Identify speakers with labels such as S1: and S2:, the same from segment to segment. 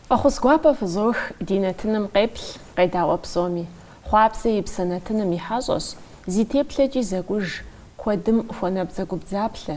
S1: Фӏэхъус гуапэ фызох ди нэтыным къеплъ къедаӏуэ псоми. Хъуапсэ и псэ нэтыным и хьэщӏэщ, зи теплъэкӏи зэкӏуж, куэдым хуэнабдзэгубдзаплъэ,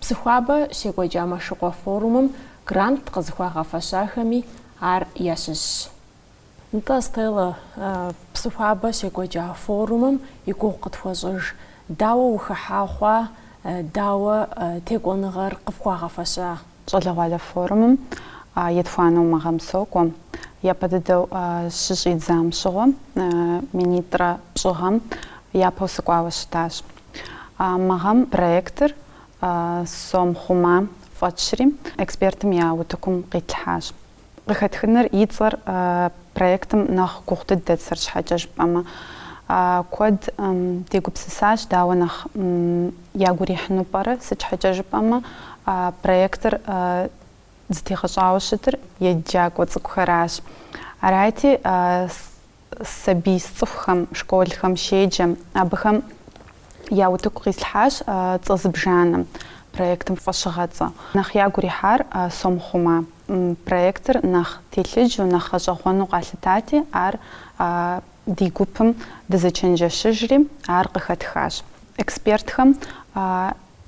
S1: Псыхуабэ щекӏуэкӏа Мэшыкъуэ форумым грант къызыхуагъэфэщахэми ар ящыщщ. Нтӏэ, Стелла, Псыхуабэ щекӏуэкӏа форумым и гугъу къытхуэщӏыж, дауэ ухыхьа хъуа, дауэ текӏуэныгъэр къыфхуагъэфэща? Щӏалэгъуалэ форумым етхуанэу мы гъэм сокӏуэ. Япэ дыдэу щыщӏидзам щыгъуэ, минитӏрэ пщӏы гъэм япэу сыкӏуауэ щытащ. Мы гъэм проектыр Сом хъума фӏэтщри, экспертым я утыкум къитлъхьащ. Къыхэтхыныр и цӏэр проектым нэхъ гугъу дыдэт, сыт щхьэкӏэ жыпӏэмэ, куэд дегупсысащ, дауэ нэхъ ягу ирихьыну пӏэрэ, сыт щхьэкӏэ жыпӏэмэ, проектыр зытегъэщӏауэ щытыр еджакӏуэ цӏыкӏухэращ. Арати, сабий сцӏыхухэм, школхэм щеджэм, абыхэм я утыку къислъхьащ цӏэ зыбжанэм проектым фӏэщыгъэцӏэ. Нэхъ ягу ирихьар Сом хъума, проектыр нэхъ телъыджэу, нэхъ гъэщӏэгъуэну къалъытати, ар ди гупым дызэчэнджэщыжри, ар къыхэтхащ. Экспертхэм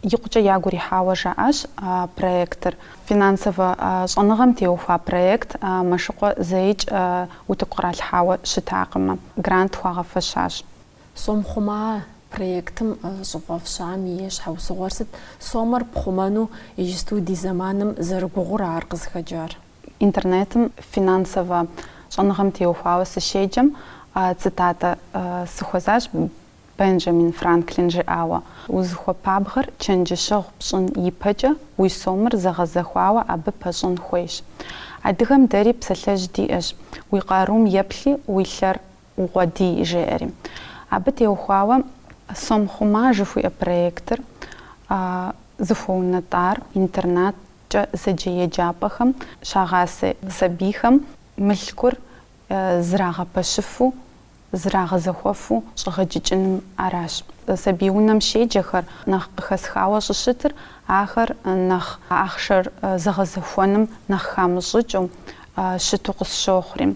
S1: икъукӏэ ягу ирихьауэ жаӏащ а проектыр. Финансовэ щӏэныгъэм теухуа проект Мэшыкъуэ зэикӏ утыку къралъхьауэ щытакъым, грант хуагъэфэщащ. Сом хъума проектым щӏыфӏэфщам и щхьэусыгъуэр сыт? Сомэр пхъумэну иджысту ди зэманым зэрыгугъур ара къызыхэкӏар? Интернетым финансовэ щӏэныгъэм теухуауэ сыщеджэм, цитатэ сыхуэзащ. Бенджамин Франклин жиӏауэ, узыхуэпабгъэр чэнджэщэгъу пщӏын ипэкӏэ уи сомыр зэгъэзэхуауэ абы пэщӏын хуейщ. Адыгэм дэри псалъэжь диӏэщ, Уи къарум еплъи, уи лъэр укъуэдий, жеӏэри. Абы теухуауэ Сом хъума жыхуиӏэ проектыр зыхуэунэтӏар интернаткӏэ зэджэ еджапӏэхэм щагъасэ сабийхэм мылъкур зэрагъэпэщыфу зэрагъэзэхуэфу щӏегъэджыкӏыным аращ. Сабий унэм щеджэхэр нэхъ къыхэсхауэ щӏыщытыр ахэр нэхъ ахъшэр зэгъэзэхуэным нэхъ хамыщӏыкӏыу щыту къысщохъури.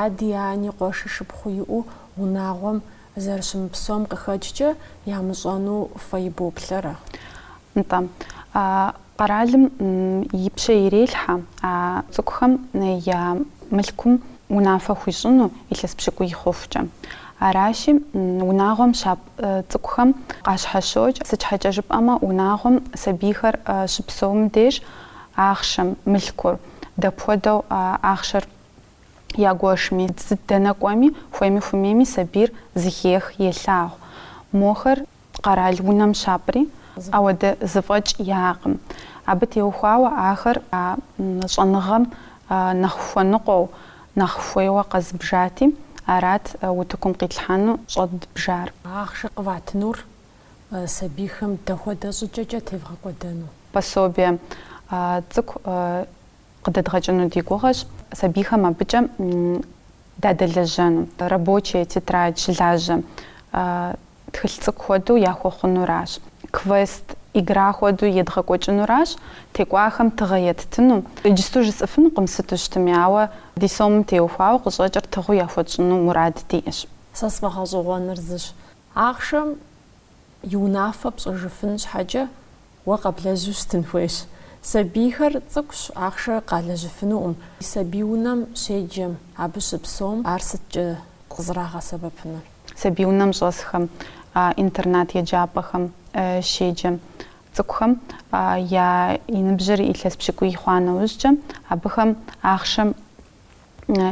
S1: Ади ани къуэши шыпхъуи иӏэу унагъуэм зэрыщымыпсэум къыхэкӏкӏэ ямыщӏэну фэ ибоплъэрэ? Нтӏэ, а къэралым и пщэ ирелъхьэ а цӏыкӏухэм я мылъкум унафэ хуищӏыну илъэс пщыкӏуий хъухукӏэ. Аращи, унагъуэм щапӏ цӏыкӏухэм къащхьэщокӏ, сыт щхьэкӏэ жыпӏэмэ унагъуэм сабийхэр щыпсэум деж ахъшэм мылъкур дапхуэдэу ахъшэр ягуэшми, сыт дэнэ кӏуэми хуейми хуэмейми сабийр зыхех, елъагъу. Мохэр къэрал унэм щапӏри ахуэдэ зэфӏэкӏ яӏэкъым. Абы теухуауэ ахэр а щӏэныгъэм нэхъ хуэныкъуэу, нэхъ хуейуэ къэзыбжати, арат утыкум къитлъхьэну щӏэдбжар. Ахъшэ къыватынур сабийхэм дапхуэдэ щӏыкӏэкӏэ тевгъэкӏуэдэну? Пособие цӏыкӏу къыдэдгъэкӏыну ди гугъэщ. Сабийхэм абыкӏэ дадэлэжьэну. Рабочие тетрадь щылажьэ Тхылъ цӏыкӏу хуэдэу яхуэхъунуращ. Квест, игра хуэдэу едгъэкӏуэкӏынуращ, текӏуахэм тыгъэ еттыну. Иджысту жысӏэфынукъым сыту щытми, ауэ ди сомым теухуауэ къыщӏэкӏыр тыгъэу яхуэтщӏыну мурад диӏэщ. Сэ сфӏэгъэщӏэгъуэныр зыщ. Ахъшэм и унафэ пщӏыжыфын щхьэкӏэ Уэ къэблэжьу щытын хуейщ. Сабийхэр цӏыкӏущ, ахъшэр къалэжьыфынукъым. Сабий унэм щеджэм, абы щыпсэум ар сыткӏэ къызэрагъэсэбэпынур? Сабий унэм щӏэсхэм, интернат еджапӏэхэм щеджэм цӏыкӏухэм я и ныбжьыр илъэс пщыкӏуий хъуа нэужькӏэ, абыхэм ахъшэм.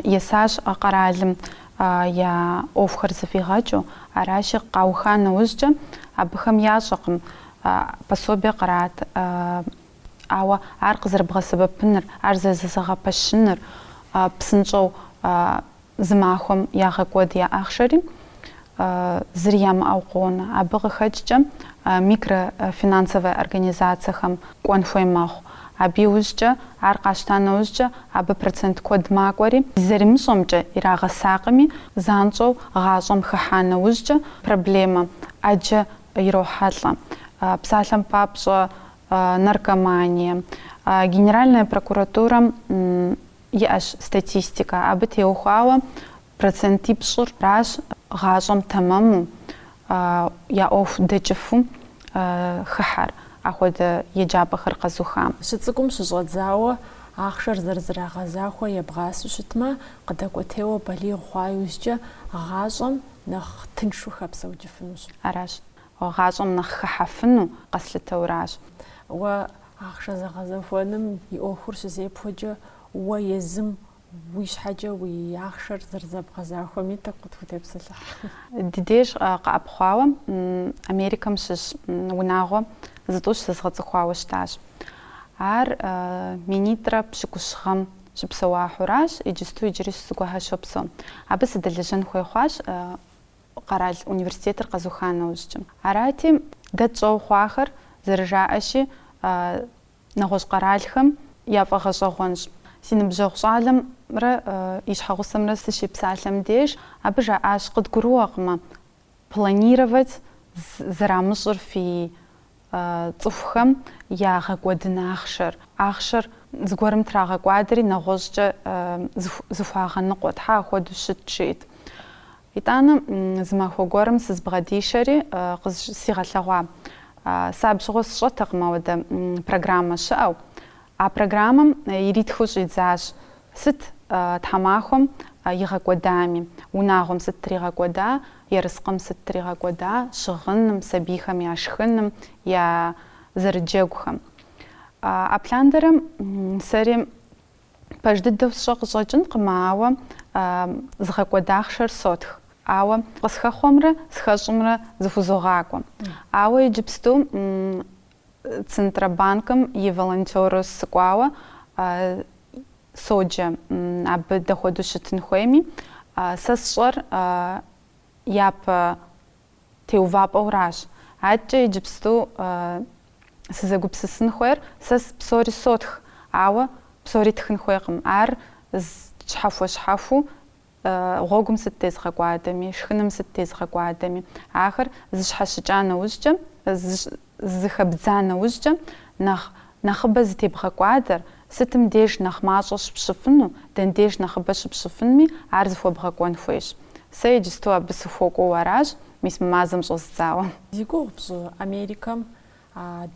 S1: Есащ къэралым я ӏуэхухэр зыфӏигъэкӏыу, аращи, къауха нэужькӏэ, абыхэм ящӏэкъым пособие кърат, ауэ ар къызэрыбгъэсэбэпыныр, ар зэрызэгъэпэщыныр псынщӏэу зы махуэм ягъэкӏуэд я ахъшэри, зыри ямыӏэу къонэ. Абы къыхэкӏкӏэ микрофинансовэ организацэхэм кӏуэн хуей мэхъу. Абы иужькӏэ, ар къащта нэужькӏэ, абы процент куэд макӏуэри, зэримыщӏэмкӏэ ирагъэсакъыми, занщӏэу гъащӏэм хыхьа нэужькӏэ проблемэ ӏэджэ ирохьэлӏэ. Псалъэм папщӏэ, наркомание. Генеральная прокуратурэм иӏэщ статистикэ. Абы теухуауэ Процентипщӏыращ гъащӏэм тэмэму я ӏуэху дэкӏыфу хыхьэр ахуэдэ еджапӏэхэр къэзухам. Щыцӏыкӏум щыщӏэдзауэ ахъшэр зэрызрагъэзахуэ ебгъасу щытмэ, къыдэкӏуэтейуэ балигъ хъуа иужькӏэ гъащӏэм нэхъ тыншу хэпсэукӏыфынущ. Аращ. Гъащӏэм нэхъ хыхьэфыну къэслъытэуращ. Уэ ахъшэ зэгъэзэхуэным и ӏуэхур щызепхуэкӏэ уэ езым Уи щхьэкӏэ уи ахъшэр зэрызэбгъэзахуэми тӏэкӏу къытхутепсэлъыхь. Ди деж къэӏэпхъуауэ Америкэм щыщ унагъуэ зытӏущ зэзгъэцӏыхуауэ щытащ. Ар минитӏрэ пщыкӏущ гъэм щыпсэуахэуращ, иджысту иджыри зыгуэрхэр щопсэу. Абы сыдэлэжьэн хуей хъуащ къэрал университетыр къэзуха нэужькӏэ. Арати, дэ тщӏэу хъуахэр, зэрыжаӏэщи, Нэгъуэщӏ къэралхэм яфӏэгъэщӏэгъуэнщ. Си ныбжьэгъу щӏалэмрэ и щхьэгъусэмрэ сыщепсалъэм деж, абы жаӏащ, къыдгурыӏуэкъымэ, планировать зэрамыщӏыр фи цӏыхухэм ягъэкӏуэдын ахъшэр. Ахъшэр зыгуэрым трагъэкӏуадэри, нэгъуэщӏкӏэ зыхуагъэныкъуэ. Щхьэ ахуэдэу щыт, жиӏэт. Итӏанэ зы махуэ гуэрым сызбгъэдишэри, къызигъэлъэгъуа, сэ абжьыгъуэ сщӏэтэкъым ауэдэ программэ щыӏэу. А программэм иритхыу щӏидзащ сыт тхьэмахуэм игъэкӏуэдами, унагъуэм сыт тригъэкӏуэда, ерыскъым сыт тригъэкӏуэда, щыгъыным, сабийхэм я шхыным, я зэрыджэгухэм. Абы лъандэрэм сэри Пэж дыдэу сщӏэ къыщӏэкӏынкъым, ауэ згъэкӏуэда ахъшэр сотх, ауэ къысхэхъуэмрэ схэщӏымрэ зэхузогъакӏуэ. Ауэ иджыпсту Центробанкым и волонтёру сыкӏуауэ соджэ, абы дахуэдэу щытын хуейми, сэ сщӏэр япэ Теувапӏэуращ. Адэкӏэ иджыпсту сызэгупсысын хуейр, сэ псори сотх, ауэ псори тхын хуейкъым. Ар щхьэхуэ-щхьэхуу гъуэгум сыт тезгъэкӏуадэми, шхыным сыт тезгъэкӏуадэми, ахэр зэщхьэщыкӏа нэужькӏэ, Зэхэбдза нэужькӏэ, нэхъ нэхъыбэ зытебгъэкӏуадэр, сытым деж нэхъ мащӏэ щыпщӏыфыну, дэн деж нэхъыбэ щыпщӏыфынми, ар зэхуэбгъэкӏуэн хуейщ. Сэ иджысту абы сыхуэкӏуэу аращ, мис мы мазэм щӏэздзауэ. Зи гугъу пщӏы, Америкэм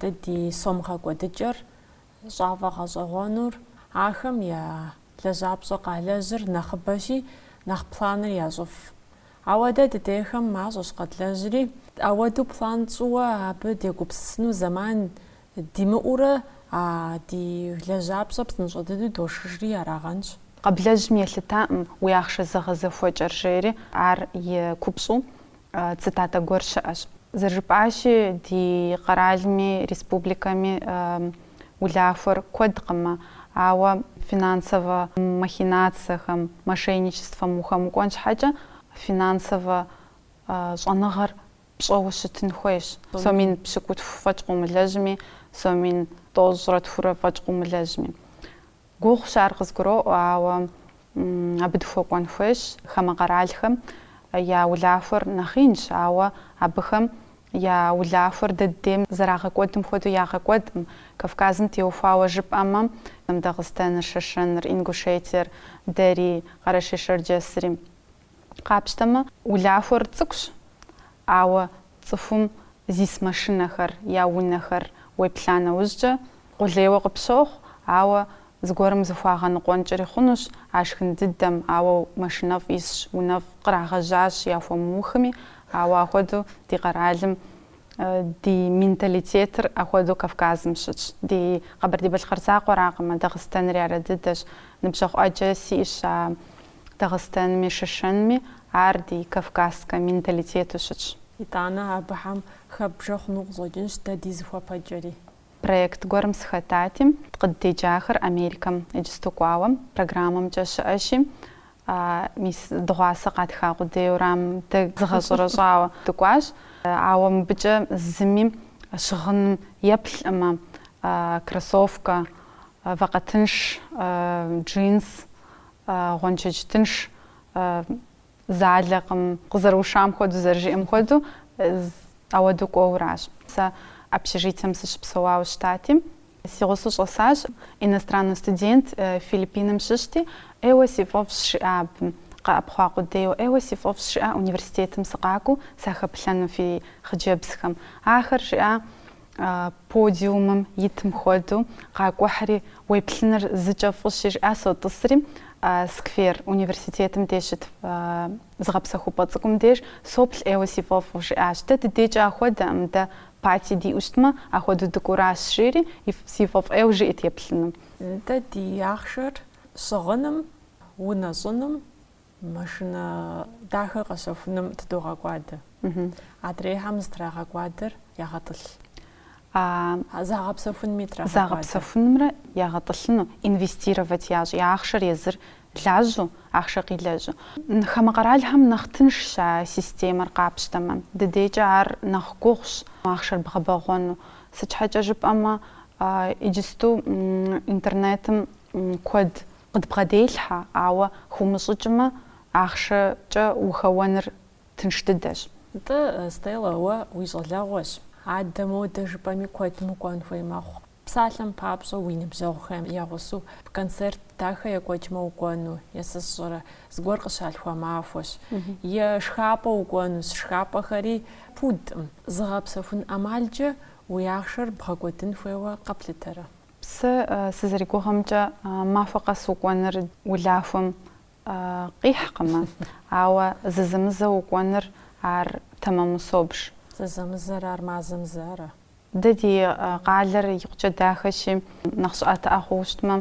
S1: дэ ди сом гъэкӏуэдыкӏэр щӏафӏэгъэщӏэгъуэнур, ахэм я лэжьапщӏэ къалэжьыр нэхъыбэщи, нэхъ планыр ящӏыф. Ауэ дэ дыдейхэм мащӏэщ къэдлэжьри, ауэду план тщӏыуэ абы дегупсысыну зэман димыӏэурэ а ди лэжьапщӏэ псынщӏэ дыдэу дошхыжри арагъэнщ. Къэблэжьым елъытакъым уи ахъшэ зэгъэзэхуэкӏэр, жери ар и купщӏэу цитатэ гуэр щыӏэщ. Зэрыжыпӏащи, ди къэралми, республикэми улахуэр куэдкъымэ, ауэ финансовэ махинацэхэм, мошенничествэм ухэмыкӏуэн щхьэкӏэ финансовэ щӏэныгъэр пщӏэуэ щытын хуейщ. Сомин пщыкӏутху фӏэкӏ къыумылэжьми, сомин тӏощӏрэ тхурэ фӏэкӏ къыумылэжьми. Гугъущ ар къызгуроӏуэ, ауэ абы дыхуэкӏуэн хуейщ хамэ къэралхэм я улахуэр нэхъ инщ, ауэ абыхэм я улахуэр дэ ддейм зэрагъэкӏуэдым хуэдэу ягъэкӏуэдкъым. Кавказым теухуауэ жыпӏэмэ, Дагъыстэныр, Шэшэныр, Ингушетиер, дэри, Къэрэшей-Шэрджэсри. Къапщтэмэ, улахуэр цӏыкӏущ, ауэ цӏыхум зис машинэхэр, я унэхэр уеплъа нэужькӏэ, къулейуэ къыпщохъу, ауэ зыгуэрым зыхуагъэныкъуэнкӏри хъунущ, а шхын дыдэм, ауэ машинэфӏ исщ, унэфӏ кърагъэжьащ яхуэмыухми, ауэ ахуэдэу ди къэралым, ди менталитетыр ахуэдэу Кавказым щытщ. Ди Къэбэрдей-Балъкъэр закъуэракъым, а Дагъыстэнри арэдыдэщ, ныбжьэгъу ӏэджэ сиӏщ а Дагъыстэнми Шышэнми ар ди кавказскэ менталитету щытщ. Итӏанэ абыхэм хэбжэ хъуну къыщӏэкӏынщ дэ ди зыхуэпэкӏэри. Проект гуэрым сыхэтати, къыддеджахэр Америкэм иджысту кӏуауэ программэмкӏэ щыӏэщи, мис дыгъуасэ къатха къудейуэрам дэ зыдгъэщӏэрэщӏауэ дыкӏуащ. Ауэ мыбыкӏэ зыми щыгъыным еплъкъым, кроссовкэ, вакъэ тынш, джинс, Гъуэншэдж тынш залэкъым, къызэрыушам хуэдэу, зэрыжиӏэм хуэдэу, ахуэдэу кӏуэуращ. Сэ общежитием сыщыпсэуауэ щытати, си гъусэу щӏэсащ, иностраннэ студент Филиппиным щыщти, ӏейуэ си фӏэфӏщ, жиӏа абы, къэӏэпхъуа къудейуэ, ӏейуэ си фӏэфӏщ, жиӏа университетым сыкъакӏуэу сахэплъэну фи хъыджэбзхэм. Ахэр, жиӏа, Подиумым итым хуэдэу къакӏухьри, уеплъыныр зыкӏэ фӏыщи, жиӏа сотӏысри, сквер, университетым деж щыт зыгъэпсэхупӏэ цӏыкӏум деж соплъ ӏейуэ си фӏэфӏу, жиӏащ. Дэ дыдейкӏэ ахуэдэкъым, дэ пати диӏэу щытмэ, ахуэдэу дыкӏуэращ, жери си фӏэфӏ ӏейуэ жиӏэт еплъыну. Дэ ди ахъшэр щыгъыным, унэщӏыным, Машинэ дахэ къэщэхуным тыдогъэкӏуадэ. Адрейхэм зытрагъэкӏуадэр ягъэтӏылъ. Загъэпсэхунми трагъэкӏуадэ. Загъэпсэхунымрэ ягъэтӏылъыну, инвестировать ящӏи, ахъшэр езыр лажьэу, ахъшэ къилэжьу. Хамэ къэралхэм нэхъ тыншщ а системэр къапщтэмэ. Дыдейкӏэ ар нэхъ гугъущ ахъшэр бгъэбэгъуэну. Сыт щхьэкӏэ жыпӏэмэ, иджысту интернетым куэд Къыдбгъэделъхьэ, ауэ хыумыщӏыкӏмэ, ахъшэкӏэ ухэуэныр тынш дыдэщ. Нтӏэ, Стелла, уэ уи щӏалэгъуэщ. Адэ модэ жыпӏэми куэдым укӏуэн хуей мэхъу. Псалъэм папщӏэ, уи ныбжьэгъухэм я гъусэу концерт дахэ екӏуэкӏмэ укӏуэну, е сэ сщӏэрэ, зыгуэр къыщалъхуа махуэщ. Е шхапӏэ укӏуэнущ, шхапӏэхэри пудкъым. Зыгъэпсэхун ӏэмалкӏэ уи ахъшэр бгъэкӏуэдын хуейуэ къэплъытэрэ? Сэ сызэригугъымкӏэ, махуэ къэс укӏуэныр улахуэм къихькъымэ, ауэ зэзэмызэу укӏуэныр ар тэмэму собж. Зэзэмызэр ар мазэм зэ ара? Дэ ди къалэр икъукӏэ дахэщи, нэхъ щӏыӏэтыӏэ хъууэ щытмэ,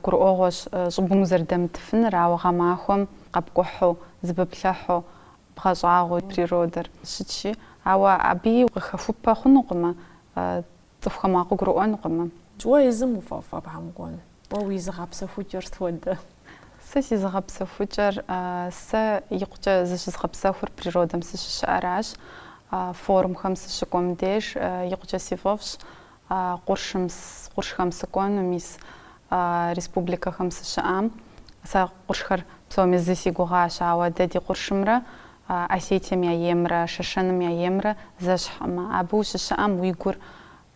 S1: гурыӏуэгъуэщ щӏыбым узэрыдэмытыфыныр, ауэ гъэмахуэм къэпкӏухьу, зэпэпплъыхьу, бгъэщӏагъуэу природэр щытщи, ауэ абыи къыхэхупэ хъунукъымэ Цӏыхухэм а къыгурыӏуэнукъым. Уэ езым уфӏэфӏ абыхэм укӏуэн? Уэ уи зыгъэпсэхукӏэр сыт хуэдэ? Сэ си зыгъэпсэхукӏэр, сэ икъукӏэ зыщызгъэпсэхур природэм сыщыщыӏэращ. Форумхэм сыщыкӏуэм деж икъукӏэ си фӏэфӏщ къуршым, къуршхэм сыкӏуэну, мис республикэхэм сыщыӏам. Сэ къуршхэр псоми зы си гугъащ, ауэ дэ ди къуршымрэ Осетием я еймрэ Шэшэным я еймрэ зэщхькъымэ, абы ущыщыӏэм уи гур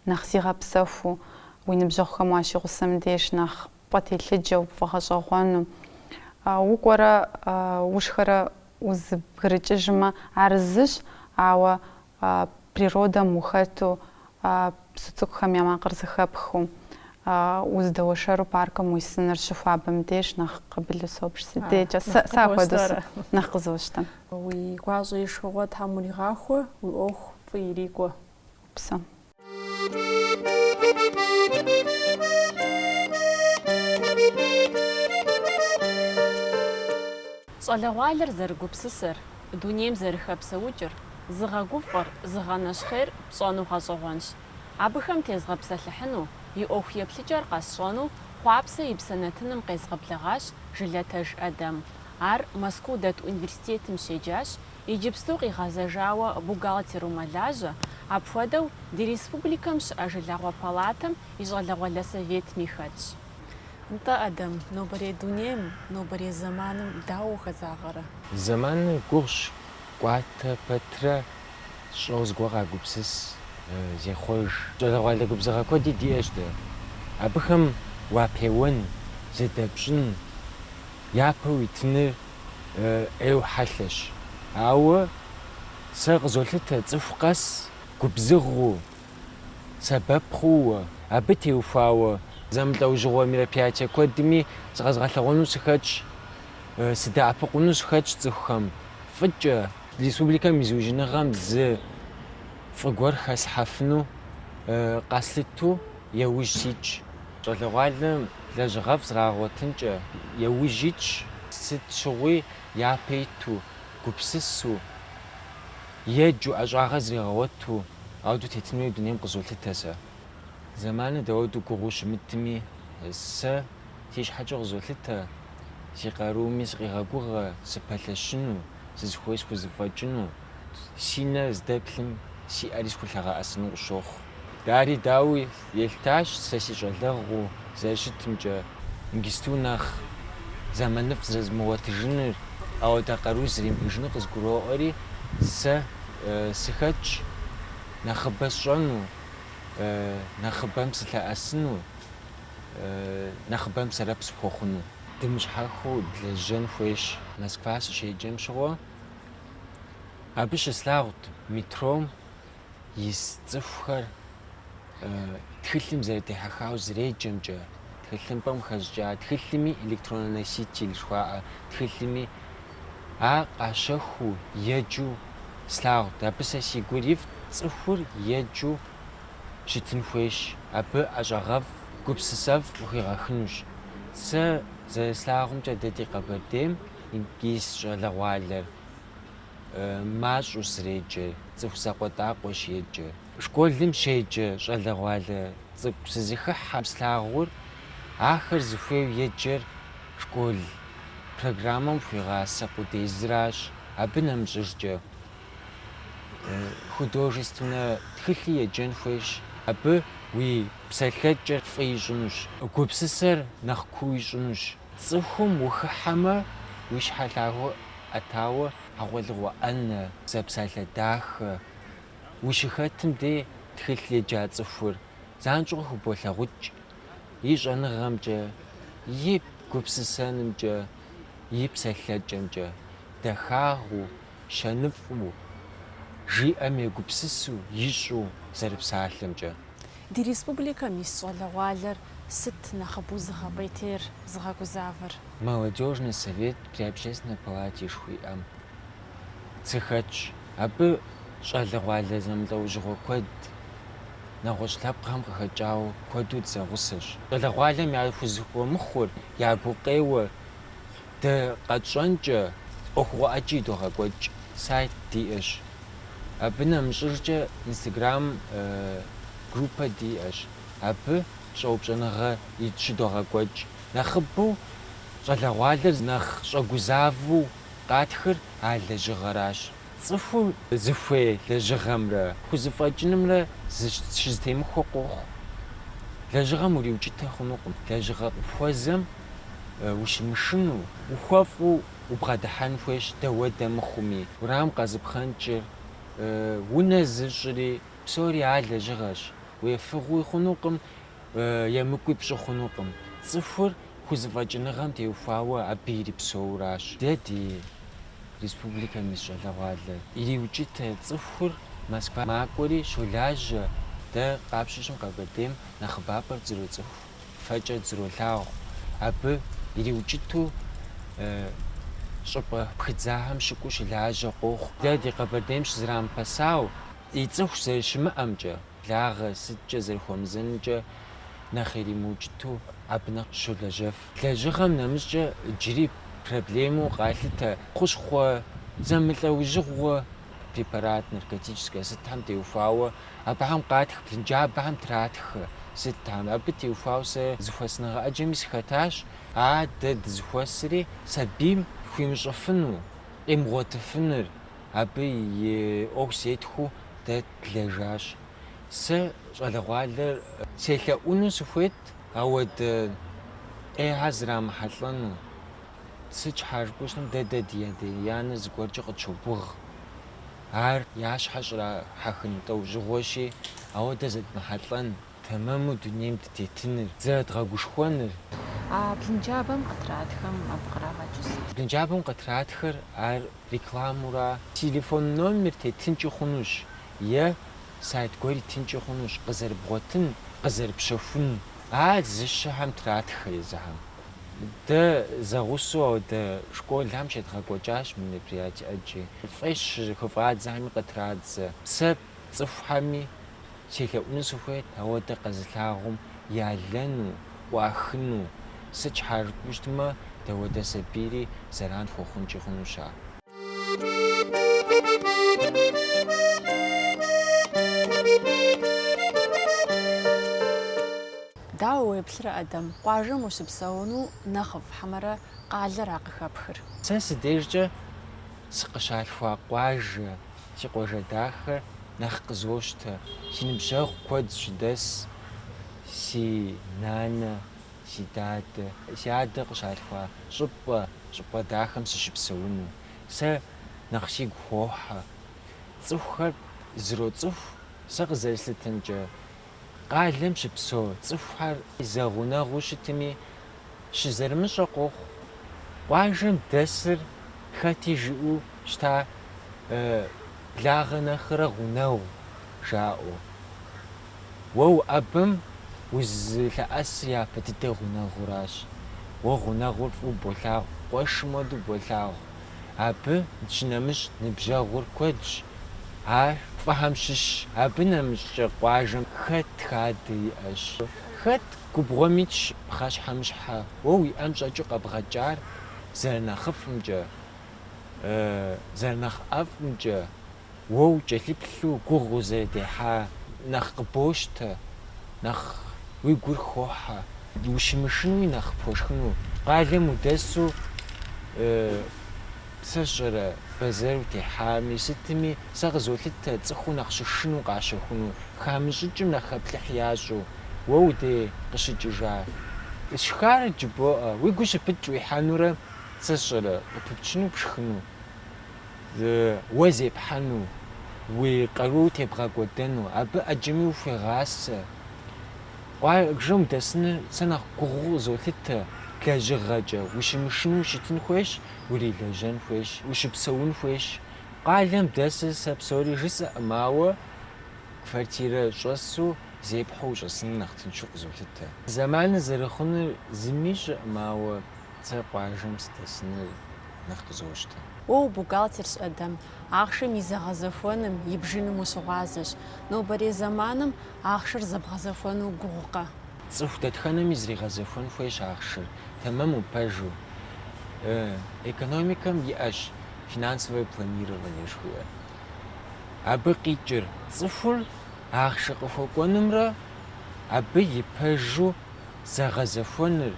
S1: нэхъ зигъэпсэхуу, уи ныбжьэгъухэм уащигъусэм деж нэхъ пфӏэтелъыджэу, пфӏэгъэщӏэгъуэну. Укӏуэрэ ушхэрэ узыбгрыкӏыжмэ, ар зыщ, ауэ природэм ухэту, псы цӏыкӏухэм я макъыр зэхэпхыу, уздэуэршэру паркым уисыныр щыхуабэм деж нэхъ къабылу собж. Си дежкӏэ сэ апхуэдэу нэхъ къызощтэ. Уи гуащӏэ и шхыгъуэ тхьэм уригъахуэ, уи ӏуэху фӏы ирикӏуэ. Упсэу. Щӏалэгъуалэр зэрыгупсысэр, дунейм зэрыхэпсэукӏыр, зыгъэгуфӏэр, зыгъэнэщхъейр пщӏэну гъэщӏэгъуэнщ. Абыхэм тезгъэпсэлъыхьыну, и ӏуэху еплъыкӏэр къэсщӏэну Хъуапсэ и псэ нэтыным къезгъэблэгъащ Жылэтеж Эдэм. Ар Мэзкуу дэт университетым щеджащ, Иджыпсту къигъэзэжауэ бухгалтеру мэлажьэ, апхуэдэу ди республикэм щыӏэ Жылагъуэ палатэм и щӏалэгъуалэ советми хэтщ. Нтӏэ, Эдэм, нобэрей дунейм, нобэрей зэманым дауэ ухэзагъэрэ? Зэманыр гугъущ, кӏуатэ пэтрэ щӏэуэ зыгуэр къагупсыс, зехъуэж. Щӏалэгъуалэ губзыгъэ куэди диӏэщ дэ. Абыхэм уапеуэн, зыдэпщӏын, япэ уитыныр ӏейуэ хьэлъэщ. Ауэ сэ къызолъытэ цӏыху къэс губзыгъэу, сэбэп хъууэ, абы теухуауэ зэмылӏэужьыгъуэ мероприятие куэдми зыкъэзгъэлъэгъуэну сыхэтщ, сыдэӏэпыкъуну сыхэтщ цӏыхухэм фӏыкӏэ. Республикэм и зыужьыныгъэм зы фӏы гуэр хэслъхьэфыну къэслъыту яужь ситщ. Щӏалэгъуалэм Лэжьыгъэфӏ зрагъэгъуэтынкӏэ яужь итщ, сыт щыгъуи япэ иту, гупсысу еджэу ӏэщӏагъэ зригъэгъуэту ауэдэу тетын хуей дунейм къызолъытэ сэ. Зэманыр дауэду гугъуу щымытми, сэ си щхьэкӏэ къызолъытэ, си къарууми сыкъигъэгугъэ сыпэлъэщыну, сызыхуей схузэфӏэкӏыну. Си нэр здэплъым си ӏэри схулъэгъэӏэсыну къысщохъу. Дари дауи, елъытащ сэ си щӏалэгъуу зэрыщытымкӏэ, иджысту нэхъ зэманыфӏ зэрызмыгъуэтыжыныр, ауэдэ къару зримыӏэжынур къызгуроӏуэри, сэ сыхэтщ нэхъыбэ сщӏэну, нэхъыбэм сылъэӏэсыну, нэхъыбэм сэрэп сыхуэхъуну. Дымыщхьэхыу длэжьэн хуейщ. Москва сыщеджэм щыгъуэ Абы щыслъагъут метром ис цӏыхухэр тхылъым зэрытехьэхауэ зреджэмкӏэ, тхылъымпӏэм хэщӏыкӏа тхылъми электроннэ носитель жыхуаӏэ тхылъми а къащэхуу еджэу слъагъут. Абы сэ си гур ирифӏт, цӏыхур еджэу щытын хуейщ, абы ӏэщӏагъэфӏ, гупсысэфӏ къыхуигъэхынущ. Сэ зэрыслъагъумкӏэ дэ ди Къэбэрдейм ис щӏалэгъуалэр мащӏэу зреджэр, цӏыху закъуэтӏакъуэщ еджэр. Школым щеджэ щӏалэгъуалэ цӏыкӏу сызыхыхьэм слъагъур, ахэр зыхуейу еджэр школ программэм хуигъасэ къудейзыращ, абы нэмыщӏыжкӏэ художественнэ тхылъи еджэн хуейщ, абы уи псэлъэкӏэр фӏы ищӏынущ, гупсысэр нэхъ куу ищӏынущ. Цӏыхум ухыхьэмэ, уи щхьэ лъагэу ӏэтауэ хьэгъуэлӏыгъуэ ӏэнэ, зэпсалъэ дахэ ущыхэтым де тхылъ еджа цӏыхур занщӏэу хыболъагъукӏ, и щӏэныгъэмкӏэ, и гупсысэнымкӏэ, и псэлъэкӏэмкӏэ, дахагъыу, щэныфӏу, жиӏэм егупсысу ищӏу зэрыпсалъэмкӏэ. Ди республикэм ис щӏалэгъуалэр сыт нэхъыбэу зыгъэпӏейтейр, зыгъэгузавэр? Молодежный совет при Общественной палате жыхуиӏэм сыхэтщ. Абы щӏалэгъуалэ зэмылӏэужьыгъуэ куэд, нэгъуэщӏ лъэпкъхэм къыхэкӏауэ куэду дызэгъусэщ. Щӏалэгъуалэм яхузыхуэмыхъур, я гукъеуэр Дэ къэтщӏэнкӏэ ӏуэхугъуэ ӏэджи идогъэкӏуэкӏ, сайт диӏэщ. Абы нэмыщӏыркӏэ инстаграм группэ диӏэщ. Абы щӏэупщӏэныгъэ ит щыдогъэкӏуэкӏ. Нэхъыбэу щӏалэгъуалэр нэхъ щӏэгузавэу къатхыр а лэжьыгъэращ. Цӏыхум зыхуей лэжьыгъэмрэ хузэфӏэкӏынымрэ щызэтемыхуэ къохъу. Лэжьыгъэм уриукӏытэ хъунукъым, лэжьыгъэ къыпхуэзэм ущымышыну, ухуэфӏу убгъэдыхьэн хуейщ дауэдэ мыхъуми. Уэрам къэзыпхъэнкӏыри, унэ зыщӏри, псори ар лэжьыгъэщ, уефыгъуи хъунукъым, емыкӏуи пщӏы хъунукъым. Цӏыхур хузэфӏэкӏыныгъэм теухуауэ абы ирипсэууращ. Дэ ди республикэм ис щӏалэгъуалэр ириукӏытэ цӏыхур Москва макӏуэри щолажьэ, дэ къапщтэу щытмэ Къэбэрдейм нэхъыбапӏэр дызэроцӏыху, фэкӏэ дызэролъагъу. Абы ириукӏыту щӏыпӏэ пхыдзахэм щыкӏуэу щылажьэ къохъу. Дэ ди Къэбэрдейм щызрамыпэсауэ, и цӏыху зэрыщымыӏэмкӏэ. благъэ сыткӏэ зэрыхуэмызэнумкӏэ нэхъ иримыукӏыту абы нэхъ щолэжьэф. Лэжьыгъэм нэмыщӏкӏэ иджыри проблемэу къалъытэ хущхъуэ зэмылӏэужьыгъуэ препарат, наркотическэ сытхэм теухуауэ, абыхэм къатх блынджабэхэм тратхэ сытхэм. Абы теухуауэ сэ зэхуэсыныгъэ ӏэджэми сыхэтащ, а дэ дызэхуэсри сабийм хуимыщӏыфыну, къимыгъуэтыфыныр, абы и ӏуэху зетхуэу дэ длэжащ. Сэ щӏалэгъуалэр селъэӏуну сыхуейт, ауэдэ ӏейхэр зрамыхьэлӏэну. Сыт щхьа жыпӏэу щытмэ, дэ дэ ди адэ-анэ зыгуэркӏэ къытщогугъ. Ар я щхьэр щӏрахьэхын лӏэужьыгъуэщи, ауэдэ зэдмыхьэлӏэн. Тэмэму дунейм дытетыныр, зэрыдгъэгушхуэныр. А блынджабэм къытратхэм абы кърагъэкӏы сыт? Блынджабэм къытратхэр ар рекламэура? Телефон номер тетынкӏи хъунущ е сайт гуэр итынкӏи хъунущ, къызэрыбгъуэтын, къызэрыпщэхун. Ар зыщэхэм тратхэ езыхэм. Дэ зэгъусэу ауэдэ школхэм щедгъэкӏуэкӏащ мероприятие икӏи. Фӏей щыхыфӏадзэхэми къытрадзэ. Сэ Цӏыхухэми селъэӏуну сыхуейт ауэдэ къэзылъагъум ялэну, ӏуахыну. Сыт щхьа жыпӏэу щытмэ, дауэдэ сабийри зэран хуэхъункӏи хъунущ ар. Дауэ уеплърэ, Адэм? Къуажэм ущыпсэуну нэхъыфӏ хьэмэрэ къалэра къыхэпхыр? Сэ си дежкӏэ сыкъыщалъхуа къуажэ. Си къуажэ дахэр нэхъ къызощтэ, си ныбжьэгъу куэд щыдэс, си нанэ, си дадэ, си адэ къыщалъхуа щӏыпӏэ, щӏыпӏэ дахэм сыщыпсэуну. Сэ нэхъ сигу хохьэ. Цӏыхухэр зэроцӏыху сэ къызэрыслъытэмкӏэ. къалэм щыпсэу цӏыхухэр зэгъунэгъуу щытми, щызэрымыщӏэ къохъу. Къуажэм дэсыр хэти жыӏэу щыта благъэ нэхърэ гъунэгъу жаӏэу. Уэ уӏэбэм узылъэӏэсыр япэ дыдэ гъунэгъуращ. Уэ гъунэгъур фӏыуэ болъагъу, къуэшым хуэдэу болъагъу. Абы щынэмыщӏ ныбжьэгъур куэдщ. Ар фӏыхэм щыщщ. Абы нэмыщӏкӏэ къуажэм хэт хадэ иӏэщ. Хэт губгъуэм итщ пхъэщхьэмыщхьэ. Уэ уи ӏэм щӏэкӏыу къэбгъэкӏар зэрынэхъыфӏымкӏэ, зэрынэхъ ӏэфӏымкӏэ. уэ укӏэлъыплъу гугъу узэрыдехьа нэхъ къыбощтэ, нэхъ уи гур хохьэ, ущымышынуи нэхъ пхуэшхыну. Къалэм удэсу сэ сщӏэрэ бэзэр утехьами, сытми, сэ къызолъытэ цӏыхуу нэхъ щышыну къащэхуну, хамыщӏыкӏым нэхъ хэплъыхь ящӏу. Уэ уи дей къыщыкӏыжа. Сшхар жыбоӏэ, уи гур щыпыкӏ уихьэнурэ сэ сщӏэрэ къыпыпчыну пшхыну. Уэ зепхьэну, уи къару тебгъэкӏуэдэну, абы ӏэджэми ухуегъасэ. Къуажэм удэсыныр сэ нэхъ гугъуу къызолъытэ, лэжьыгъэкӏэ, ущымышынэу ущытын хуейщ, урилэжьэн хуейщ, ущыпсэун хуейщ. Къалэм дэсыр сэ псори жысӏэкъым, ауэ квартирэ щӏэсу зепхьэу ущӏэсыныр нэхъ тыншу къызолъытэ. Зэманыр зэрыхъунур зыми ищӏэкъым, ауэ сэ къуажэм сыдэсыныр нэхъ къызощтэ. Уэ убухгалтерщ, Эдэм. Ахъшэм и зэгъэзэхуэным, и бжыным ущыгъуазэщ. Нобэрей зэманым ахъшэр зэбгъэзэхуэну гугъукъэ? Цӏыху дэтхэнэми зригъэзэхуэн хуейщ ахъшэр, тэмэму пэжу. Экономикэм иӏэщ финансовое планирование жыхуиӏэр. Абы къикӏыр цӏыхур ахъшэ къыхуэкӏуэнымрэ абы и пэжу зэгъэзэхуэныр,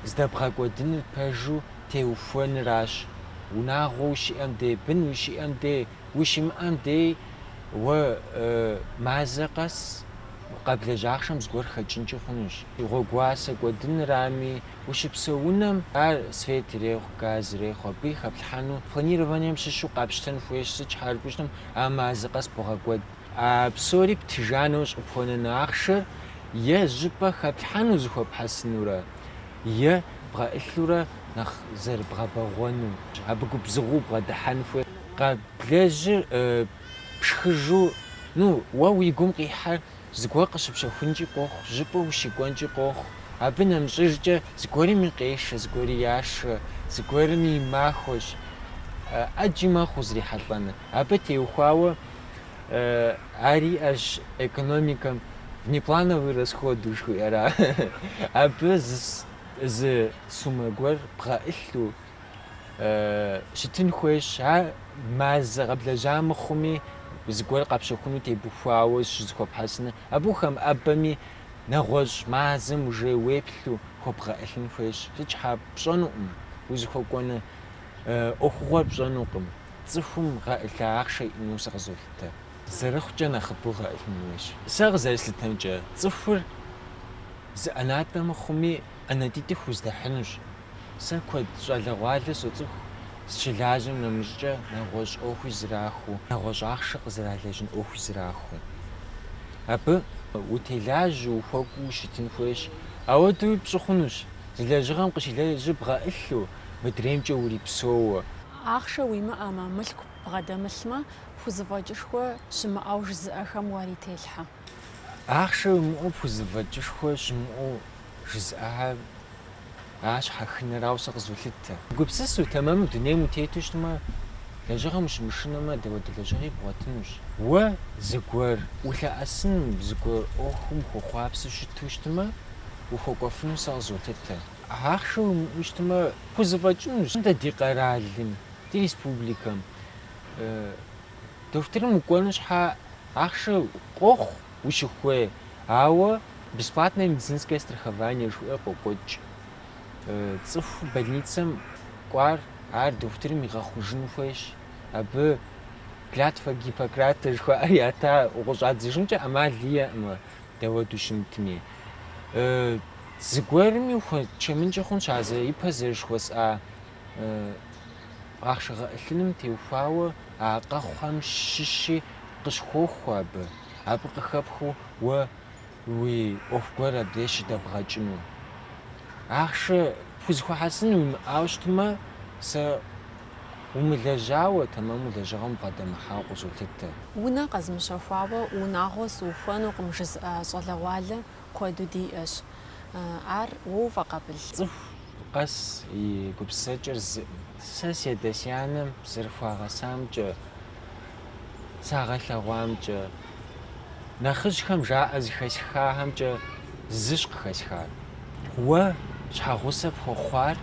S1: здэбгъэкӏуэдыныр пэжу теухуэныращ. Унагъуэ ущиӏэм дей, бын ущиӏэм дей, ущимыӏэм дей уэ мазэ къэс къэблэжь ахъшэм зыгуэр хэкӏынкӏи хъунущ. Гъуэгуасэ кӏуэдынырами, ущыпсэу унэм ар свет ирехъу, газ ирехъу, абы и хэплъхьэну планированием щыщу къапщтэн хуейщ, сыт щхьэкӏэ жытӏэм а мазэ къэс бгъэкӏуэд. А псори птыжа нэужь къыпхуэнэн ахъшэр е зыщӏыпӏэ хэплъхьэну зыхуэпхьэсынурэ, е бгъэӏылъурэ нэхъ зэрыбгъэбэгъуэну. Абы губзыгъэу убгъэдыхьэн хуейщ къэблэжьыр пшхыжу, ну, уэ уи гум къихьэр зыгуэр къыщыпщэхункӏи къохъу, зыщӏыпӏэ ущыкӏуэнкӏи къохъу. Абы нэмыщӏыжкӏэ зыгуэрми къешэ, зыгуэри яшэ, зыгуэрми и махуэщ ӏэджи мэхъу узрихьэлӏэныр. Абы теухуауэ ар иӏэщ экономикэм внеплановый расход жыхуиӏэра. Абы зы сумэ гуэр бгъэӏылъу щытын хуейщ. Ар мазэ къэблэжьа мыхъуми, зыгуэр къэпщэхуну тебухуауэ щызыхуэпхьэсыныр. Абы ухэмыӏэбэми, нэгъуэщӏ мазэм уже уеплъу хуэбгъэӏылъын хуейщ. Сыт щхьа? Пщӏэнукъым, узыхуэкӏуэну ӏуэхугъуэр пщӏэнукъым. Цӏыхум гъэӏылъа ахъшэ иӏэну сэ къызолъытэ, зэрыхъукӏэ нэхъыбэу гъэӏылъын хуейщ. Сэ къызэрыслъытэмкӏэ, цӏыхур зы ӏэнатӏэ мыхъуми, ӏэнатӏитӏ хуздэхьынущ. Сэ куэд щӏалэгъуалэ соцӏыху, зыщылажьэм нэмыщӏкӏэ нэгъуэщӏ ӏуэхуи зэрахуэу, нэгъуэщӏ ахъшэ къызэралэжьын ӏуэхуи зэрахуэу. Абы утелажьэу, ухуэкӏуу ущытын хуейщ. Ауэдэуи пщӏы хъунущ, зы лэжьыгъэм къыщилэжьыр бгъэӏылъу, мыдреймкӏэ урипсэууэ. Ахъшэ уимыӏэмэ, мылъку бгъэдэмылъмэ, пхузэфӏэкӏышхуэ щымыӏэу жызыӏэхэм уарителъхьэ. Ахъшэ уимыӏэу пхузэфӏэкӏышхуэ щымыӏэу жызыӏэхэр а щхьэхынэрауэ сэ къызолъытэ. Угупсысэу тэмэму дунейм утету щытмэ, лэжьыгъэм ущымышынэмэ, дауэдэ лэжьыгъи бгъуэтынущ. Уэ зыгуэр улъэӏэсыным, зыгуэр ӏуэхум ухуэхъуапсэу щыту щытмэ, ухуэкӏуэфыну сэ къызолъытэ. Ахъшэ уимыӏэу щытмэ, пхузэфӏэкӏынущ дэ ди къэралым, ди республикэм. Дохутырым укӏуэну щхьа ахъшэ къохъу ущыхуей, ауэ бесплатное медицинское страхование жыхуиӏэр къокӏуэкӏ. Цӏыху больницэм кӏуар ар дохутырым игъэхъужын хуейщ, абы клятва Гиппократа жыхуаӏэр ята, укъыщӏадзыжынкӏэ ӏэмал иӏэкъым. Дауэду щымытми, зыгуэрми ухуэчэмынкӏэ хъунщ а зэ ипэ зэрыжыхуэсӏа ахъшэ гъэӏылъыным теухуауэ а къэхъухэм щыщи къыщхуохуэ абы, абы къыхэпхыу уэ уи ӏуэху гуэр абдеж щыдэбгъэкӏыну. Ахъшэ пхузыхуэхьэсын уимыӏауэ щытмэ, сэ Умылэжьауэ, тэмэму лэжьыгъэм убгъэдэмыхьауэ къызолъытэ. Унэ къэзмыщэхуауэ унагъуэ сыухуэнукъым жызыӏэ щӏалэгъуалэ куэду диӏэщ. Ар уэ уфӏэкъабыл? Цӏыху къэс и гупсысэкӏэр зыӏым. Сэ си адэ-си анэм зэрыхуагъэсамкӏэ сагъэлъэгъуамкӏэ, нэхъыжьхэм жаӏэ зыхэсхахэмкӏэ зыщ къыхэсхар. Уэ щхьэгъусэ пхуэхъуар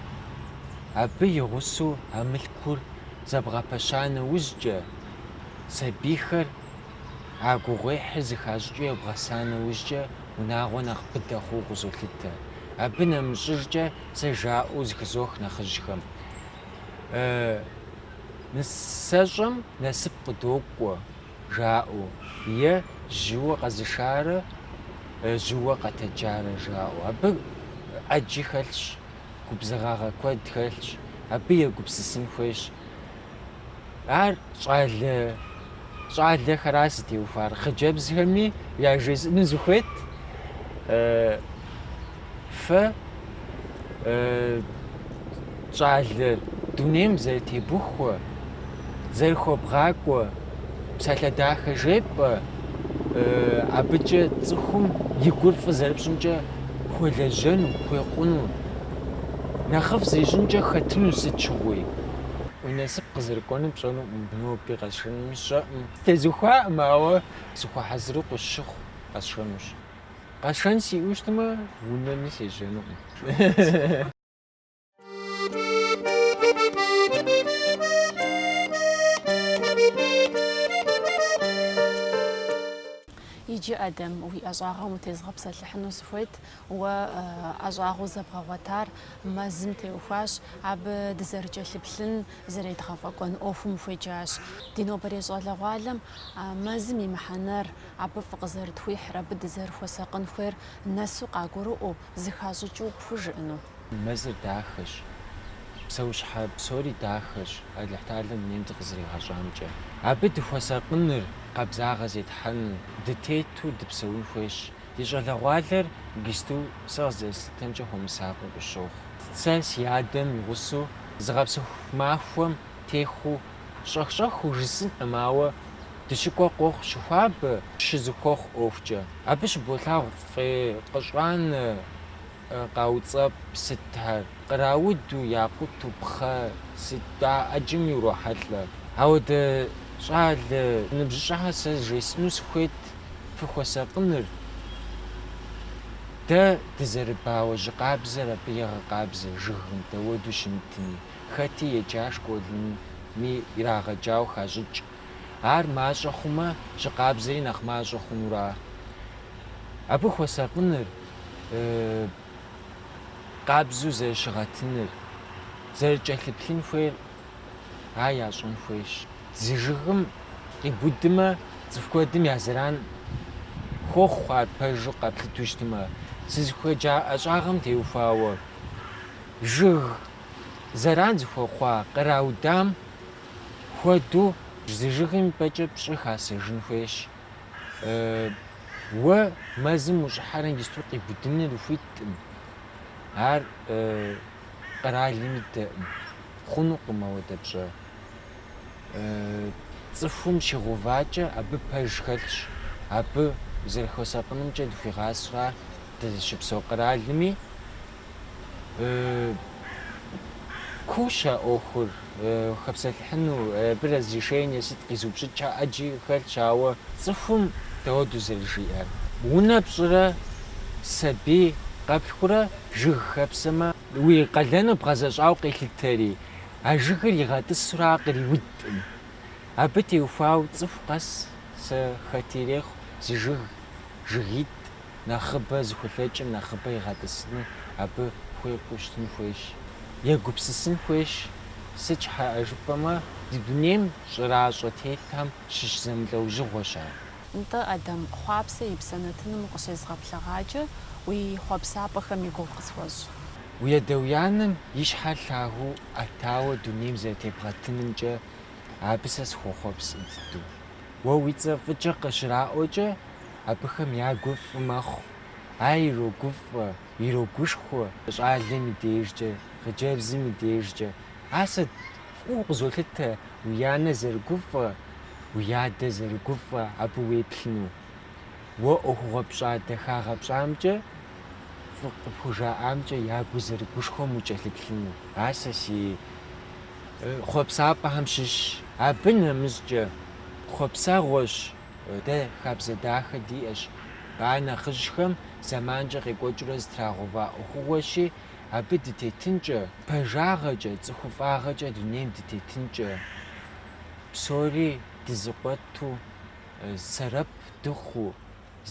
S1: абы и гъусэу а мылъкур зэбгъэпэща нэужькӏэ, сабийхэр а гугъуехьыр зыхащӏыкӏыу ебгъэса нэужькӏэ унагъуэ нэхъ быдэ хъууэ къызолъытэ. Абы нэмыщӏыжкӏэ сэ жаӏэу зыхызох нэхъыжьхэм, нысащӏэм насып къыдокӏуэ, жаӏэу, е жьыуэ къэзышарэ жьыуэ къэтэджарэ жаӏэу. Абы ӏэджи хэлъщ, губзыгъагъэ куэд хэлъщ, абы егупсысын хуейщ. Ар щӏалэ. щӏалэхэра зытеухуар, хъыджэбзхэми яжесӏэну сыхуейт, фэ щӏалэ дунейм зэрытебухуэ, зэрыхуэбгъакӏуэ псалъэ дахэ жепӏэ, абыкӏэ цӏыхум и гур фӏы зэрыпщӏымкӏэ хуэлэжьэну, хуекъуну, нэхъыфӏ зищӏынкӏэ хэтыну сыт щыгъуи, уи насып къызэрыкӏуэнур пщӏэнукъым. Ноби къэсшэнуми сщӏэкъым. Тезухуакъым, ауэ сыхуэхьэзыру къысщыхъу, къэсшэнущ. Къэсшэн сиӏэу щытмэ, унэми сежьэнукъым. Иджы, Адэм, уи ӏэщӏагъэм утезгъэпсэлъыхьыну сыхуейт, Уэ ӏэщӏагъэу зэбгъэгъуэтар мэзым теухуащ, абы дызэрыкӏэлъыплъын, зэредгъэфӏэкӏуэн ӏуэхум хуеджащ. Ди нобэрей щӏалэгъуалэм мэзым и мыхьэнэр, абы фӏы къызэрытхуихьыр, абы дызэрыхуэсакъын хуейр нэсу къагурыӏуэу, зыхащӏыкӏыу пхужыӏэну. Мэзыр дахэщ, псэущхьэ псори дахэщ, Алыхьталэм дунейм дыкъызэригъэщӏамкӏэ. Абы дыхуэсакъыныр, къабзагъэ зетхьэныр, дытету дыпсэун хуейщ, Ди щӏалэгъуалэр иджыпсту сэ къызэрыслъытэмкӏэ хуэмысакъыу къыщохъу. Сэ си адэм и гъусэу зыгъэпсэху махуэм техъуу щӏэх-щӏэхыу жысӏынкъым, ауэ дыщыкӏуэ къохъу щыхуабэ, щызыхуэхъу ӏуэхукӏэ. Абы щыболъагъу фӏей къыщӏанэ Къауцӏэпӏ сытхэр, кърауду, якъуту, пхъэ сыт, а ӏэджэм урохьэлӏэ. Ауэ ди щӏалэ ныбжьыщӏэхэр сэ жесӏэну сыхуейт фыхуэсакъыныр, дэ дызэрыбауэ жьы къабзэр абы егъэкъабзэ жыгым дауэду щымытми, хэти еджащ, школми ирагъэджауэ хащӏыкӏ. Ар мащӏэ хъумэ, жьы къабзэри нэхъ мащӏэ хъунуращ, абы хуэсакъыныр? къабзэу зэрыщыгъэтыныр, зэрыкӏэлъыплъын хуейр, ар ящӏэн хуейщ. Зы жыгым къибудмэ, цӏыху куэдым я зэран хуохъу ар пэжу къэплъыту щытмэ. Сызыхуеджа ӏэщӏагъэм теухуауэ, жыг зэран зыхуэхъуа къраудам хуэдэу зы жыгым и пӏэкӏэ пщӏы хасэжын хуейщ. Уэ мэзым ущӏыхьэрэ иджысту къибудыныр ухуиткъым. Ар къэралым идэкъым. Хъунукъым ауэдэ пщӏэ. Цӏыхум щигъэувакӏэ абы пэж хэлъщ. Абы зэрыхуэсакъынымкӏэ дыхуегъасэ ар дызыщыпсэу къэралми. куущ а ӏуэхур хэпсэлъыхьыну, абы разрешение сыт къизыупщӏыкӏ ӏэджи хэлъщ, ауэ цӏыхум дауэдэу зэрыжиӏэр? Унэ пщӏырэ сабий къэплъхурэ жыг хэпсэмэ, уи къалэныр бгъэзэщӏауэ къелъытэри, а жыгыр игъэтӏысурэ ар къриудкъым. Абы теухуауэ цӏыху къэс сэ хэт ирехъу, зы жыг, жыгитӏ. нэхъыбэ зыхулъэкӏым нэхъыбэ игъэтӏысыну абы хуекӏуу щытын хуейщ. Егупсысын хуейщ, сыт щхьэӏэ жыпӏэмэ, ди дунейм щӏэращӏэ тетхэм щыщ зэмылӏэужьыгъуэщ ар. Нтӏэ, Адэм, Хъуапсэ и псэ нэтыным укъыщезгъэблэгъакӏэ, уи хъуэпсапӏэхэм и гугъу къысхуэщӏ. Уи адэ-уи анэм и щхьэр лъагэу ӏэтауэ дунейм зэрытебгъэтынымкӏэ абы сэ сыхуохъуапсэ дыдэу. Уэ уи цӏэ фӏыкӏэ къыщраӏуэкӏэ, абыхэм я гур фӏы мэхъу, ар ирогуфӏэ, ирогушхуэ щӏалэм и дежкӏэ, хъыджэбзым и дежкӏэ. Ар сэ фӏыуэ къызолъытэ уи анэ зэрыгуфӏэ, уи адэ зэрыгуфӏэ абы уеплъыну. Уэ ӏуэхугъуэ пщӏа дахагъэ пщӏамкӏэ, фӏы къыпхужаӏамкӏэ я гур зэрыгушхуэм укӏэлъыплъыну. Ар сэ си хъуэпсапӏэхэм щыщщ. Абы нэмыщӏкӏэ, хъуэпсэгъуэщ Дэ хабзэ дахэ диӏэщ. Ар нэхъыжьхэм зэманкӏэ къекӏуэкӏыурэ зытрагъэува ӏуэхугъуэщи, абы дытетынкӏэ, пэжагъэкӏэ, цӏыхуфӏагъэкӏэ дунейм дытетынкӏэ, псори дызыкъуэту, сэрэп дыхъуу,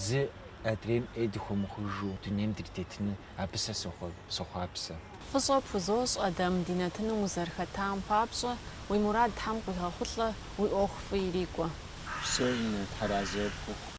S1: зы адрейм ӏей дыхуэмыхъужу дунейм дритетыну Абы сэ сохъуапсэ. Фӏыщӏэ пхузощӏ, Адэм, ди нэтыным узэрыхэтам папщӏэ, уи мурад Тхьэм къуигъэхъулӏэ, уи ӏуэху фӏы ирикӏуэ. Упсэу, тхьэразэ пхухъу.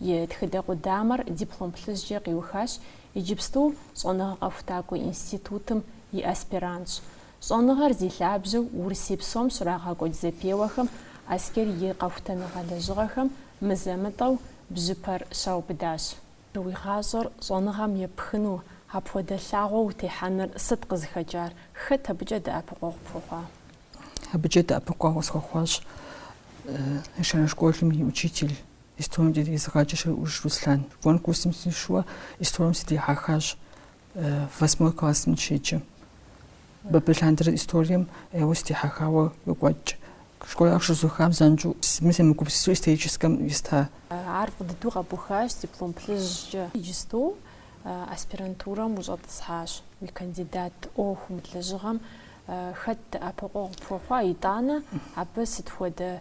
S1: И тхыдэ къудамэр диплом плъыжькӏэ къиухащ иджыпсту Щӏэныгъэ къэхутакӏуэ институтым и аспирантщ. Щӏэныгъэр зи лъабжьэу Урысей псом щрагъэкӏуэкӏ зэпеуэхэм Аскер и къэхутэныгъэ лэжьыгъэхэм мызэ-мытӏэу бжьыпэр щаубыдащ. Уи гъащӏэр щӏэныгъэм епхыну апхуэдэ лъагъуэ утехьэныр сыт къызыхэкӏар? Хэт абыкӏэ дэӏэпыкъуэгъу пхуэхъуа? Абыкӏэ дэӏэпыкъуэгъу схуэхъуащ ещанэ школым и учитель Историем дезыгъаджэ Щӏуж Руслъан. Конкурсым сишэуэ историем сыдихьэхащ восьмой классым щеджэм. Абы лъандэрэ историем ӏейуэ сыдихьэхауэ къокӏуэкӏ. Школыр къыщызухам занщӏэу семыгупсысу историческэм еста. Ар фӏы дыдэу къэбухащ диплом плъыжькӏэ. Иджыстэу аспирантурэм ущӏэтӏысхьащ. Уи кандидат ӏуэхум, лэжьыгъэм хэт дэӏэпыкъуэгъу пхуэхъуа, итӏанэ абы сыт хуэдэ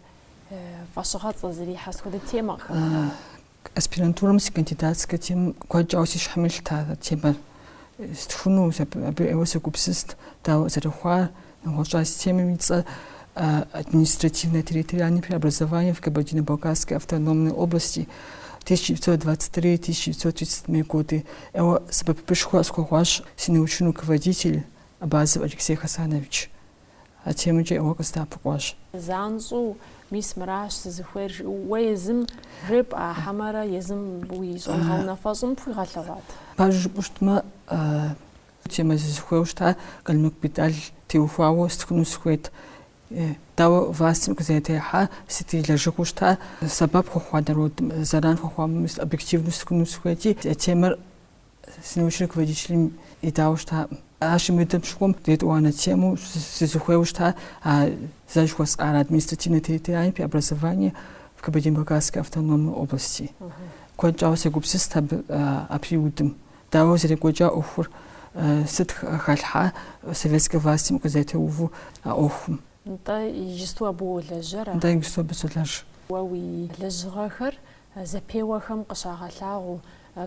S1: фӏэщыгъэцӏэ зэрихьэ схуэдэ темэхэм? Аспирантурэм си кандидатскэ темэр куэд щӏауэ си щхьэм илът а темэр. Стхуну абы ӏейуэ сегупсыст, дауэ зэрыхъуар, нэгъуэщӏ. А си темэм и цӏэ административно-территориальные преобразования в Кабардино-Балкарской автономной области 1923-1937 годы ӏейуэ сэбэпышхуэ къысхуэхъуащ си научный руководитель Абазов Алексей Хасанович. А темэмкӏэ ӏейуэ къыздэӏэпыкъуащ. Занщӏэу, мис мыращ сызыхуейр, жыпӏэу уэ езым жепӏа хьэмэрэ езым уи щӏэныгъэ унафэщӏым пхуигъэлъэгъуат? Пэжу жыпӏэу щытмэ, темэу сызыхуейуэ щыта Къалмыкъ Бетӏал теухуауэ стхыну сыхуейт. Дауэ властым къызэрытехьа, сыт и лэжьыгъэу щыта, сэбэп хуэхъуа народым, зэран хуэхъуа, мис объективнэу стхыну сыхуейти, темэр Си научнэ руководителым идауэ щытакъым. Ар щымыдэм щыхъум, етӏуанэ темэу сызыхуейуэ щыта, а зэ жыхуэсӏар административнэ территориальнэ преобразование в Кабардино-Балкарской автономной области. Куэд щӏауэ сегупсыст абы а периодым. Дауэ зэрекӏуэкӏа ӏуэхур, сыт халъхьа советскэ властим къызэтеуву а ӏуэхум. Нтӏэ иджысту абы уолэжьэра? Нтӏэ иджысту абы солэжь. Уэ уи лэжьыгъэхэр зэпеуэхэм къыщагъэлъагъуу,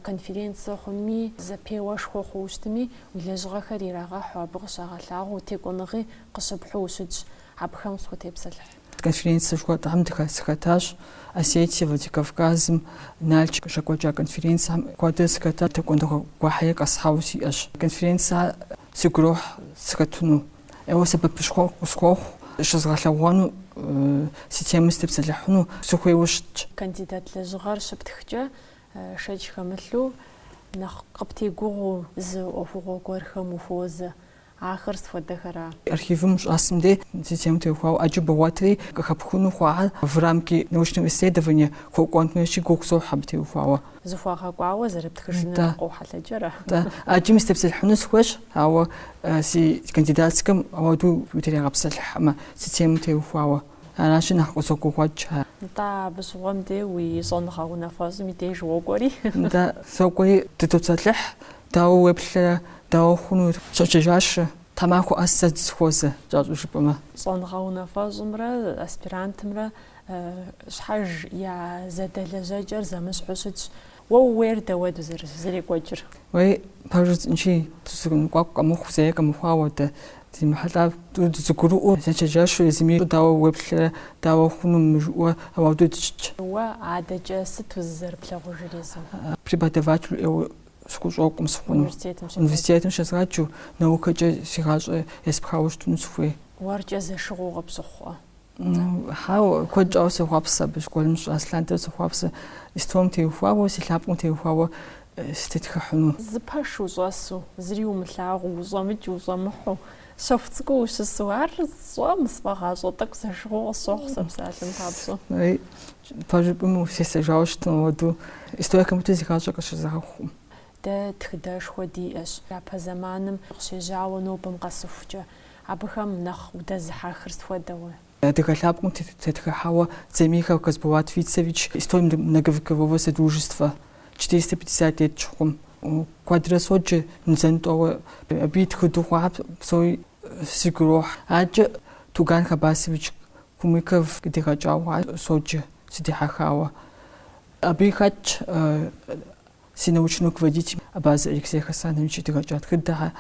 S1: конференцэ хъуми, зэпеуэшхуэ хъууэ щытми, уи лэжьыгъэхэр ирагъэхьу, абы къыщагъэлъагъуу текӏуэныгъи къыщыпхьу ущытщ, абыхэм къысхутепсэлъыхь. Конференцэ жыхуэтӏэм дыхэ сыхэтащ Осетие, Владикавказым, Налч къыщекӏуэкӏа конференцэхэм куэдрэ сыхэтащ, текӏуэныгъэ гуэрхэри къэсхьауэ сиӏэщ. Конференцэ сигу ирохь сыхэтыну, ӏейуэ сэбэпышхуэ къысхуохъу щызгъэлъэгъуэну, си темэ сытепсэлъыхьыну сыхуейуэ щытщ. Кандидат лэжьыгъэр щыптхкӏэ, Шэч хэмылъу, нэхъ къыптегугъуэу зы ӏуэхугъуэ гуэрхэм ухуозэ. Ахэр сфуэдэхэра? Архивым ущӏэсым дей си темэм теухуауэ ӏэджэ богъуэтри къыхэпхыну хъуа в рамки научного исследования хуэкӏуэн хуейщи гугъу сохьу абы теухуауэ. Зэхуэгъэкӏуауэ зэрыптхыжыныр Нтӏэ. къохьэлъэкӏрэ? Нтӏэ. Ӏэджэми сытепсэлъыхьыну сыхуейщ, ауэ си кандидатскэм апхуэдэу утригъэпсэлъыхьмэ, си темэм теухуауэ. Аращи нэхъ къысогугъуэкӏ. Нтӏэ, абы щыгъуэм де уи щӏэныгъэ унафэщӏым и деж уокӏуэри. Нтӏэ, сокӏуэри дыдопсэлъыхь, дауэ уеплърэ, дауэ хъуну? Щӏэкӏыжащ, тхьэмахуэ къэс дызэхуозэ, кӏэщӏу жыпӏэмэ. Щӏэныгъэ унафэщӏымрэ аспирантымрэ щхьэж я зэдэлэжьэкӏэр зэмыщхьу щытщ. Уэ ууейр дауэ зэрекӏуэкӏыр? Уей, пэжу жысӏэнщи, зэныкъуэкъу къэмыхъуу, зэи къэмыхъуауэ дэ, зыми ехьэлӏа тӏури дызэгурыӏуэу, дызэчэнджэщу езыми дауэ уеплърэ, дауэ хъуну мыр жиӏэу, ауэдэу дыщытщ. Уэ адэкӏэ сыт узэрызыплъагъужыр езым? Преподавателу ӏейуэ сыхущӏокъу сыхъуну. Университетым щезгъаджэу, наукэкӏэ си гъащӏэ еспхауэ щытыну сыхуей. Уэркӏэ зэшыгъуэу къыпщыхъуӏэ. Хьау, куэд щӏауэ сохъуапсэ абы, школым сыщӏэс лъандэрэ сохъуапсэ, историем теухуауэ, си лъэпкъым теухуауэ сытетхыхьыну. Зы пэш ущӏэсу, зыри умылъагъуу, ущӏэмыкӏ, ущӏэмыхьэу, щэху цӏыкӏуу ущысу, ар сщӏэм, сфӏэгъащӏэ тӏэкӏу зэшыгъуэу къысщохъу сэ псалъэм папщӏэ. Пэжу жыпӏэмэ, сесэжауэ щытым ауэдэу историе хэмыту си гъащӏэ къысщызгъэхъукъым. Дэ тхыдэшхуэ диӏэщ япэ зэманым къыщежьауэ нобэм къэсыхукӏэ, абыхэм нэхъ удэзыхьэхыр сыт хуэдэ. Адыгэ лъэпкъым тетхыхьауэ Дзамихов Касболат Фицевич История многовекового содружества, четыреста пятьдесят лет щыхъум, куэдрэ соджэ мызэ-мытӏэу, абы и тхыдэу хъуахэр псори сигу ирохь. Адэкӏэ Туган Хабасович Кумыков къыдигъэкӏауэ хъуар соджэ, сыдихьэхауэ. Абыи хэтщ. Си научный руководитель Абазы Алексей Хасанович къыдигъэкӏа тхыдэхэр,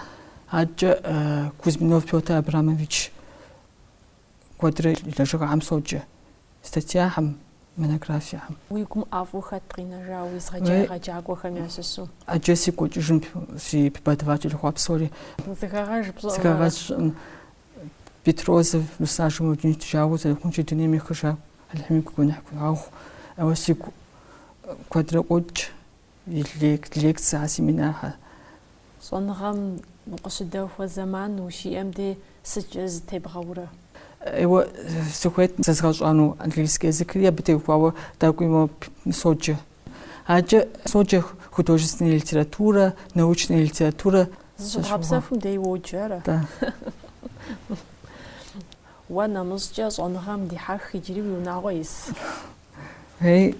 S1: адэкӏэ Кузьминов Петр Абрамович куэдрэ и лэжьыгъэхэм соджэ статьяхэм, монографиехэм. Уи гум ӏэфӏу хэт къинэжа уезыгъэджа егъэджакӏуэхэм ящыщу? Ӏэджэ сигу къокӏыж си преподаватель хъуа псори. Зэхэгъэж пщӏыӏэ. Зэхэгъэж сщӏыӏым. Бетрозов Руслан Жамалдинович, жагъуэ зэрыхъунщи, дунейм ехыжащ, Алыхьым и гуэныхь хуигъэгъу. Ауэ сигу куэдрэ къокӏ и лекцэхэр, семинархэр. Щӏэныгъэм укъыщыдэхуэ зэман ущиӏэм де сыткӏэ зытебгъэурэ? Ӏейуэ сыхуейт зэзгъэщӏэну английский языкри абы теухуауэ тӏэкӏуи моуэ соджэ. Адэкӏэ соджэ художественная литература, научная литература. Зыщыбгъэпсэхум дей уоджэ ара? Да. Уэ нэмыщӏкӏэ щӏэныгъэм дихьэх иджыри уи унагъуэ ис. Ей,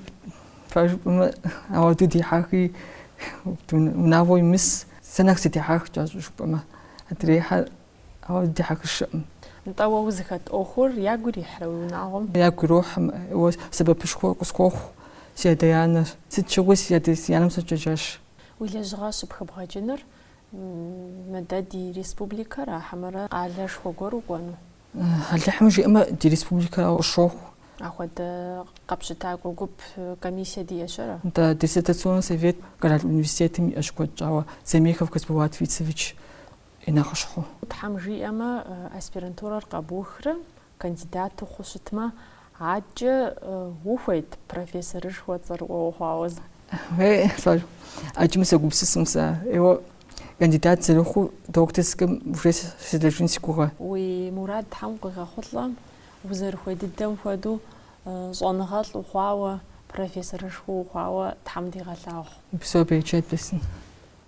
S1: пэжу жыпӏэмэ, ауэду дихьэхи, унагъуэ имыс, сэ нэхъ сыдихьэх кӏэщӏу жыпӏэмэ. Адрейхьэр Ауэ дыдихьэхыщэкъым. Нтӏэ, уэ узыхэт ӏуэхур ягу ирихьрэ уи унагъуэм? Ягу ирохьым, уэ сэбэпышхуэ къысхуохъу си адэ-анэр. Сыт щыгъуи си адэ, си анэм сочэнджэщ. Уи лэжьыгъэ щыпхыбгъэкӏыныр мыдэ ди республикэра хьэмэрэ къалэшхуэ гуэр укӏуэну? Алыхьым жиӏэмэ, ди республикэрауэ къысщохъу. Ахуэдэ къэпщытакӏуэ гуп, комиссие диӏэщ ара? Нтӏэ, диссертационнэ совет Къэрал университетым иӏэщ куэд щӏауэ, Дзамихов Касболат Фицевич. и нэхъыщхьэу. Тхьэм жиӏэмэ, аспирантурэр къэбухрэ, кандидат ухъуу щытмэ, адэкӏэ ухуейт профессорышхуэ цӏэрыӏуэ ухъуауэ зы? Уей, лӏэр, ӏэджэми согупсысым сэ. Еуэ, кандидат зэрыхъуу докторскэм уже селэжьын си гугъэ. Уи мурад Тхьэм къуигъэхъулӏэ, узэрыхуей дыдэм хуэдэу щӏэныгъэлӏ ухъуауэ, профессорышхуэ ухъуауэ Тхьэм дигъэлъагъу. Упсэу, берычэт бесын.